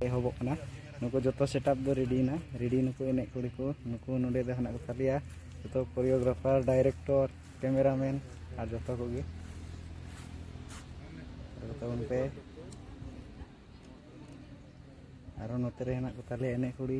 ᱮᱦᱚᱵᱚᱜ ᱠᱟᱱᱟ ᱱᱩᱠᱩ ᱡᱚᱛᱚ ᱥᱮᱴᱟᱯ ᱫᱚ ᱨᱮᱰᱤᱭᱮᱱᱟ ᱨᱮᱰᱤ ᱱᱩᱠᱩ ᱮᱱᱮᱡ ᱠᱩᱲᱤ ᱠᱚ ᱱᱩᱠᱩ ᱱᱚᱰᱮ ᱫᱚ ᱦᱮᱱᱟᱜ ᱠᱚᱛᱟ ᱞᱮᱭᱟ ᱡᱚᱛᱚ ᱠᱳᱨᱤᱭᱳᱜᱨᱟᱯᱷᱟᱨ ᱰᱟᱭᱨᱮᱠᱴᱚᱨ ᱠᱮᱢᱮᱨᱟᱢᱮᱱ ᱟᱨ ᱡᱚᱛᱚ ᱠᱚᱜᱮ ᱛᱟᱵᱚᱱ ᱯᱮ ᱟᱨᱚ ᱱᱚᱛᱮ ᱨᱮ ᱦᱮᱱᱟᱜ ᱠᱚᱛᱟ ᱞᱮᱭᱟ ᱮᱱᱮᱡ ᱠᱩᱲᱤ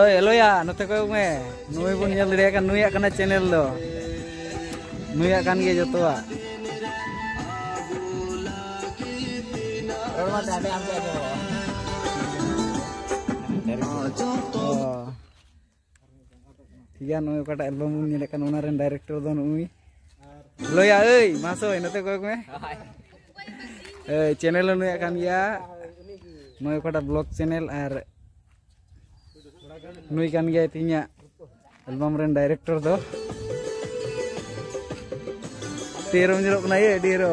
ᱳᱭ ᱮᱞᱳᱭᱟ ᱱᱚᱛᱮ ᱠᱚᱭᱚᱜ ᱢᱮ ᱱᱩᱭ ᱵᱚᱱ ᱧᱮᱞ ᱫᱟᱲᱮᱭᱟᱜ ᱠᱟᱱ ᱱᱩᱭᱟᱜ ᱠᱟᱱᱟ ᱪᱮᱱᱮᱞ ᱫᱚ ᱱᱩᱭᱟᱜ ᱠᱟᱱ ᱜᱮᱭᱟ ᱡᱚᱛᱚᱣᱟᱜ ᱨᱚᱲ ᱢᱟ ᱛᱟᱦᱞᱮ ᱟᱢ ᱜᱮ ᱟᱸᱡᱚᱢᱚᱜᱼᱟ ᱴᱷᱤᱠ ᱜᱮᱭᱟ ᱱᱚᱜᱼᱚᱭ ᱚᱠᱟᱴᱟᱜ ᱮᱞᱵᱟᱢ ᱵᱚᱱ ᱧᱮᱞᱮᱫ ᱠᱟᱱ ᱚᱱᱟ ᱨᱮᱱ ᱰᱟᱭᱨᱮᱠᱴᱚᱨ ᱫᱚ ᱱᱩᱭ ᱞᱚᱭᱟ ᱟᱹᱭ ᱢᱟ ᱥᱚᱭ ᱱᱚᱛᱮ ᱠᱚᱭᱚᱜ ᱢᱮ ᱟᱹᱭ ᱪᱮᱱᱮᱞ ᱦᱚᱸ ᱱᱩᱭᱟᱜ ᱠᱟᱱ ᱜᱮᱭᱟ ᱱᱚᱜᱼᱚᱭ ᱚᱠᱟᱴᱟᱜ ᱵᱞᱚᱜ ᱪᱮᱱᱮᱞ ᱟᱨ ᱱᱩᱭ ᱠᱟᱱ ᱜᱮᱭᱟᱭ ᱛᱤᱦᱤᱧᱟᱜ ᱮᱞᱵᱟᱢ ᱨᱮᱱ ᱰᱟᱭᱨᱮᱠᱴᱚᱨ ᱫᱚ ᱛᱮᱨᱚᱢ ᱧᱮᱞᱚᱜ ᱠᱟᱱᱟ ᱟᱹᱰᱤ ᱨᱚ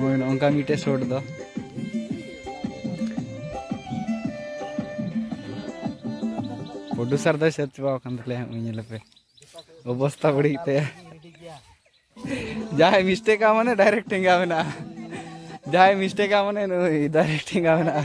ᱦᱳᱭ ᱱᱚᱝᱠᱟ ᱢᱤᱫᱴᱮᱡ ᱥᱚᱴ ᱫᱚ ᱯᱨᱚᱰᱩᱥᱟᱨ ᱫᱚᱭ ᱥᱮᱫ ᱪᱟᱵᱟ ᱟᱠᱟᱱ ᱛᱟᱞᱮᱭᱟ ᱩᱱᱤ ᱧᱮᱞ ᱯᱮ ᱚᱵᱚᱥᱛᱟ ᱵᱟᱹᱲᱤᱡ ᱛᱟᱭᱟ ᱡᱟᱦᱟᱸᱭ ᱢᱤᱥᱴᱮᱠᱟ ᱢᱟᱱᱮ ᱰᱟᱭᱨᱮᱠᱴ ᱴᱮᱸᱜᱟ ᱢᱮᱱᱟᱜᱼᱟ ᱡᱟᱦᱟᱸᱭ ᱢᱤᱥᱴᱮᱠᱟ ᱢᱟᱱᱮ ᱱᱩᱭ ᱰᱟᱭᱨᱮᱠᱴ ᱴᱮᱸᱜᱟ ᱢᱮᱱᱟᱜᱼᱟ